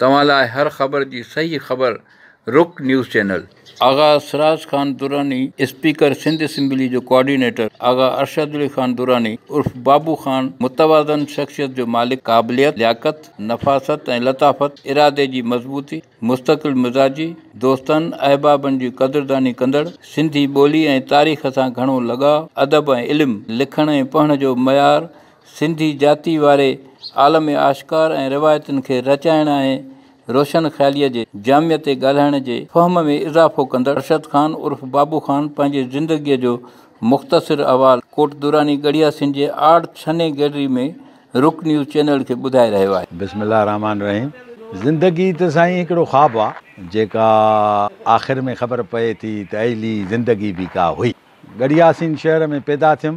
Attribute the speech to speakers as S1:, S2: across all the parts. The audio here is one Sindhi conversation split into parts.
S1: توهان لاء هر خبر جي صحيح خبر Rak news channel. Agha Siraj Khan Durrani speaker Sindh assembly جو ڪوآرڊينيٽر آغا ارشد علي خان دراني عرف بابو خان متوازن شخصيت جو مالڪ قابليت، لياقت، نفاست ۽ لطافت، ارادي جي مضبوطي، مستقل مزاجي، دوستن، احبابن جي قدرداني ڪندڙ، سنڌي ٻولي ۽ تاريخ سان گهڻو لڳاء، ادب ۽ علم، لکڻ ۽ پڙهڻ جو معيار سنڌي جاتي واري عالم آشڪار ۽ روايتن کي رچائڻ ۽ روشن خياليء جي جاميء تي ڳالهائڻ جي فهم ۾ اضافو ڪندڙ ارشد خان عرف بابو خان پنهنجي زندگيء جو مختصر احوال ڪوٽ دراني ڳڙهيا سنڌ جي آرٽ ڇني گئلري ۾ رڪ نيوز چينل کي ٻڌائي رهيو آهي. بسم الله الرحمٰن الرحيم
S2: زندگي ته سائين هڪڙو خواب آ جيڪا آخر ۾ خبر پئي ٿي ته اهلي زندگي به ڪا هئي ڳڙهيا سنڌ شهر ۾ پيدا ٿيم.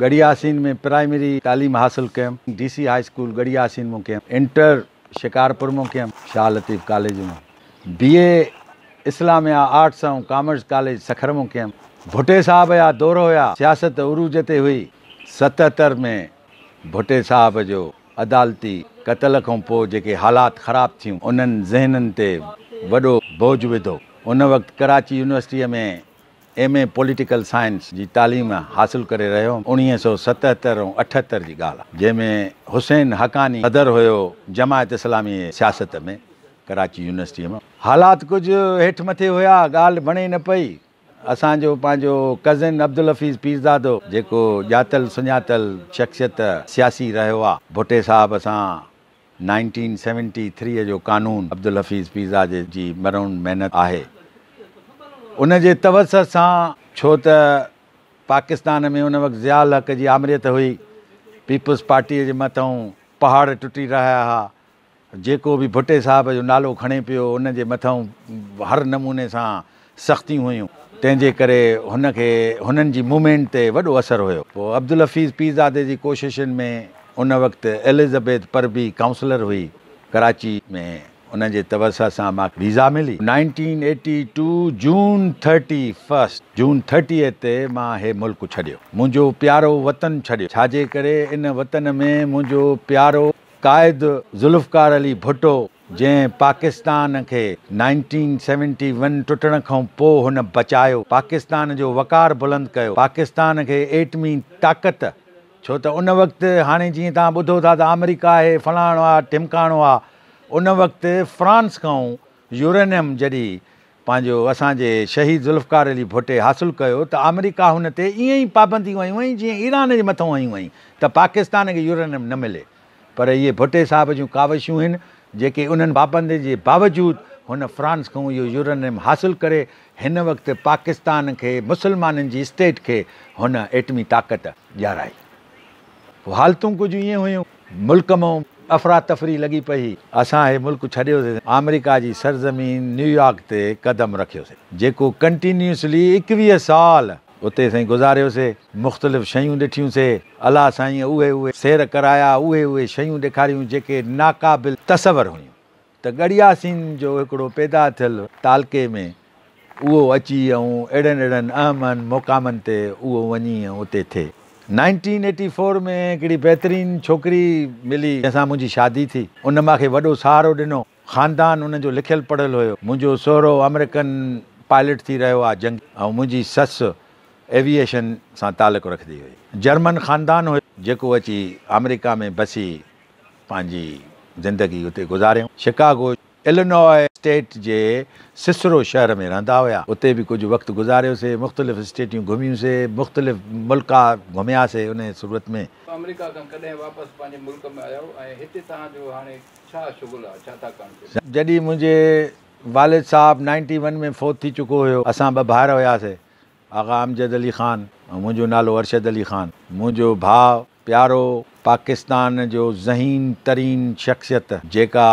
S2: ڳڙهي آسين ۾ پرائمري تعليم حاصل ڪيم. D C high school Garhi Yasin مان ڪيم. انٽر شڪارپور مان ڪيم. شاهه لطيف ڪاليج مان B A Islamia arts ۽ commerce college Sukkur مان ڪيم. ڀٽي صاحب جا دور هيا. سياست عروج تي هئي. ستهتر ۾ ڀٽي صاحب جو عدالتي قتل کان پوء جيڪي حالات خراب ٿيون انهن ذهنن تي وڏو بوجھ وڌو. ان وقت ڪراچي يونيورسٽيء ۾ ايم اي پوليٽيڪل سائنس جي تعليم حاصل ڪري رهيو هوم اڻويهه سؤ ستهتر ۽ اٺهتر جي ڳالهه آهي جنهن ۾ حسين حقاني صدر هيو جماعت اسلامي سياست ۾ ڪراچي يونيورسٽي مان حالات ڪجهه هيٺ مٿي هيا ڳالهه بڻي نه پئي اسان جو پنهنجو ڪزن عبدالحفيظ پيرزادو جيڪو ڄاتل سڃاتل شخصيت سياسي رهيو آهي ڀٽي صاحب سان نائنٽين سيونٽي ٿري جو قانون عبدالحفيظ پيزا جي جي مرهون محنت آهي ان جي توسع سان ڇو ته پاڪستان ۾ ان وقت ضياء الحق جي آمريت هئي پيپلز پارٽيء جي مٿئون پهاڙ ٽٽي رهيا ها جيڪو به ڀٽي صاحب جو نالو کڻي پيو ان جي مٿئون هر نموني سان سختيون هيون، تنهن جي ڪري هن کي هنن جي موومينٽ تي وڏو اثر هيو. پوء عبدالحفيظ پيرزادي جي ڪوششن ۾ ان وقت ايلزبيٿ پرڀي ڪائونسلر هئي، ڪراچي ۾ ان جي توسع سان مان کي ويزا ملي. نائنٽين ايٽي ٽو جون ٿرٽي فرسٽ، June Thirtieth، تي مان هي ملڪ ڇڏيو، منهنجو پيارو وطن ڇڏيو، ڇا جي ڪري ان وطن ۾ منهنجو پيارو قائد ذوالفقار علي ڀٽو، جنهن پاڪستان کي نائنٽين سيونٽي ون ٽٽڻ کان پوء هن بچايو، پاڪستان جو وقار بلند ڪيو، پاڪستان کي ايٽمي طاقت ڇو ته ان وقت هاڻي جيئن توهان ٻڌو ٿا ته آمريڪا اهي فلاڻو آ ڍمڪاڻو آ ان وقت فرانس کان يورينيم جڏي پنهنجو اسان جي شهيد ذوالفقار علي ڀٽي حاصل ڪيو ته آمريڪا هن تي ايئن ئي پابنديون هنيون هئائين جيئن ايران جي مٿان هنيون هئائين ته پاڪستان کي يورينيم نه ملي پر اهي ڀٽي صاحب جون ڪاوشون هن جيڪي انهن پابندين جي باوجود هن فرانس کان اهو يورانيم حاصل ڪري هن وقت پاڪستان کي مسلمانن جي اسٽيٽ کي هن ايٽمي طاقت ڏيارائي هو حالتون ڪجهه ائين هيون ملڪ مان افراتفري لڳي پئي اسان هي ملڪ ڇڏيو سي آمريڪا جي سرزمين نيويارڪ تي قدم رکيو سي جيڪو ڪنٽينيوسلي ايڪويهه سال. اتي سائين گذاريوسي، مختلف شيون ڏٺيون سي، الله سائينء اهي اهي سير ڪرايا، اهي اهي شيون ڏيکاريون جيڪي ناقابل تصور هيون ته ڳڙهياسين جو هڪڙو پيدا ٿيل تعلقي ۾ اهو اچي ۽ اهڙن اهڙن اهم اهم مقامن تي اهو وڃي ۽ اتي ٿئي. نائنٽين ايٽي فور ۾ هڪڙي بهترين ڇوڪري ملي جنهن سان منهنجي شادي ٿي، ان ماکي وڏو سهارو ڏنو. خاندان انهن جو لکيل پڙهيل هيو. منهنجو سهرو آمريڪن پائلٽ ٿي رهيو آ جنگي ۽ منهنجي سس ايويئيشن سان تعلق رکدي هئي. جرمن خاندان هيو جيڪو اچي آمريڪا ۾ بسي پنهنجي زندگي اتي گذاريائون. شڪاگو، الينوء اسٽيٽ جي سسرو شهر ۾ رهندا هيا. اتي به ڪجهه وقت گذاريو سي. مختلف اسٽيٽيون گهميون سي. مختلف ملڪا گهميا سي انهيء صورت ۾. آمريڪا کان ڪڏهن
S1: واپس پنهنجي ملڪ ۾ آيو ۽ هتي توهان جو هاڻي. ڇا شغل آ ڇا ٿا ڪڻ ڪيو. جڏهن منهنجي
S2: والد صاحب نائنٽي ون ۾ فوت ٿي چڪو هيو اسان ٻه ڀائر هياسي آغا امجد علي خان ۽ منهنجو نالو ارشد علي خان منهنجو ڀاء پيارو پاڪستان جو ذهين ترين شخصيت جيڪا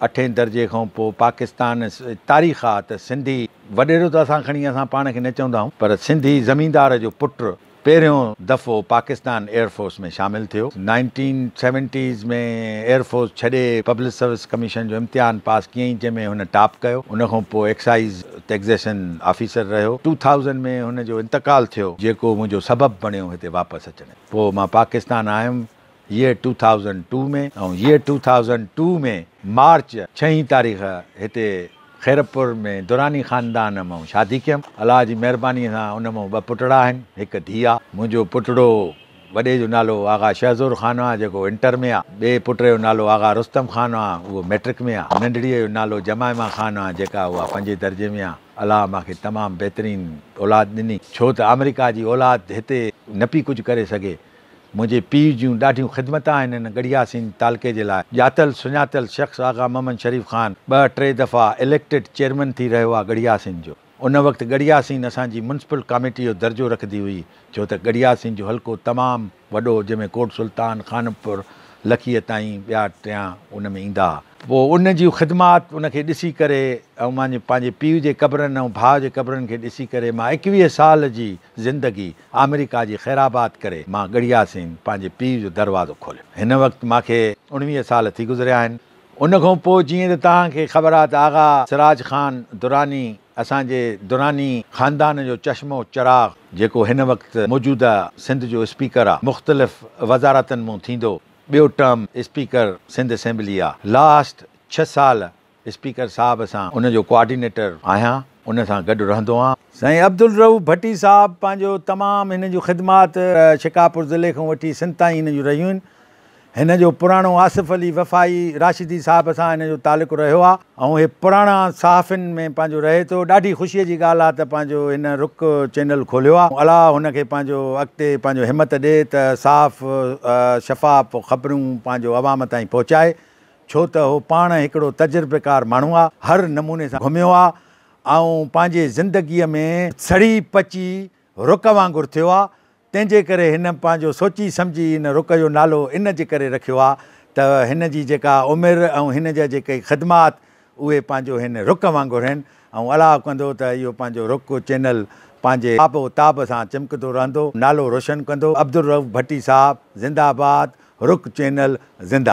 S2: اٺين درجي کان پو پاڪستان تاريخ آ ته سنڌي وڏيرو ته اسان کڻي اسان پاڻ کي نه چوندا آهون پر سنڌي زميندار جو پٽ پهريون دفعو پاڪستان ايئر فورس ۾ شامل ٿيو. نائنٽين سيونٽيز ۾ ايئر فورس ڇڏي پبلڪ سروس ڪميشن جو امتحان پاس ڪيائين جنهن ۾ هن ٽاپ ڪيو. ان کان پوء ايڪسائيز ٽيڪزيشن آفيسر رهيو. ٽو ٿائوزنڊ ۾ هن جو انتقال ٿيو. جيڪو منهنجو سبب بڻيو هتي واپس اچڻ جو. پوء مان پاڪستان آيم. Year two thousand two ۾ ۽ Year two thousand two ۾ مارچ ڇهين تاريخ هتي خيرپور ۾ دراني خاندان مئن شادي ڪيم. الله جي مهرباني سان ان مئن ٻه پٽڙا آهن، هڪ ڌيء آ. منهنجو پٽڙو وڏي جو نالو آغا شهزور خان آ، جيڪو انٽر ۾ آ. ٻئي پٽڙي جو نالو آغا رستم خان آ، اهو مئٽرڪ ۾ آ. ننڍڙيء جو نالو جمائما خان آ، جيڪا اها پنجين درجي ۾ آ. الله مان کي تمام بهترين اولاد ڏني، ڇو ته آمريڪا جي اولاد هتي نه پي ڪجهه ڪري سگهي. منهنجي پيء جون ڏاڍيون خدمتان آهن هن ڳڙهياسين تعلقي جي لاء ڄاتل سڃاتل شخص آغا محمد شريف خان ٻه ٽي دفعا اليڪٽيڊ چيئرمين ٿي رهيو آ ڳڙهياسين جو ان وقت ڳڙهياسين اسان جي ميونسپل ڪاميٽي جو درجو رکندي هئي ڇو ته ڳڙهياسين جو حلقو تمام وڏو جنهن ۾ ڪوٽ سلطان خانپور لکيء تائين ٻيا ٽيا ان ۾ ايندا ها پوء ان جي خدمات ان کي ڏسي ڪري ۽ مانجي پنهنجي پيء جي قبرن ۽ ڀاء جي قبرن کي ڏسي ڪري مان ايڪويهه سال جي زندگي آمريڪا جي خيرآباد ڪري مان ڳڙهيا سين پنهنجي پيء جو دروازو کوليو. هن وقت مان کي اڻويهه سال ٿي گذريا آهن. ان کان پوء جيئن ته توهان کي خبر آهي ته آغا سراج خان دراني اسان جي دراني خاندان جو چشمو چراغ جيڪو هن وقت موجوده سنڌ جو اسپيڪر آهي مختلف وزارتن مون ٿيندو ٻيو ٽرم اسپيڪر سنڌ اسيمبلي آهي لاسٽ ڇهه سال اسپيڪر صاحب سان ان جو ڪوآرڊينيٽر آهيان ان سان گڏ رهندو آهيان. سائين عبدالرؤف ڀٽي صاحب پنهنجو تمام هن جون خدمات شڪارپور ضلعي کان وٺي سنڌ تائين هن جون رهيون آهن هن جو پراڻو آصف علي وفائي راشدي صاحب سان هن جو تعلق رهيو آهي ۽ هي پراڻا صحافين ۾ پنهنجو رهي ٿو ڏاڍي خوشي جي ڳالهه آهي ته پنهنجو هن رڪ چينل کوليو آهي الله هن کي پنهنجو اڳتي پنهنجو همت ڏي ته صاف شفاف خبرون پنهنجو عوام تائين پهچائي ڇو ته هو پاڻ هڪڙو تجربيڪار ماڻهو آ، هر نموني سان گهميو آ ۽ پنهنجي زندگيء ۾ سڙي پچي رڪ وانگر ٿيو آ، تنهن جي ڪري هن پنهنجو سوچي سمجهي هن رڪ جو نالو ان جي ڪري رکيو آ ته هن جي جيڪا عمر ۽ هن جا جيڪي خدمات اهي پنهنجو هن رڪ وانگر هين ۽ الاء ڪندو ته اهو پنهنجو رڪ چينل پنهنجي آب و تاب سان چمڪندو رهندو، نالو روشن ڪندو، عبدالرؤف ڀٽي صاحب زنده آباد، رڪ چينل زنده.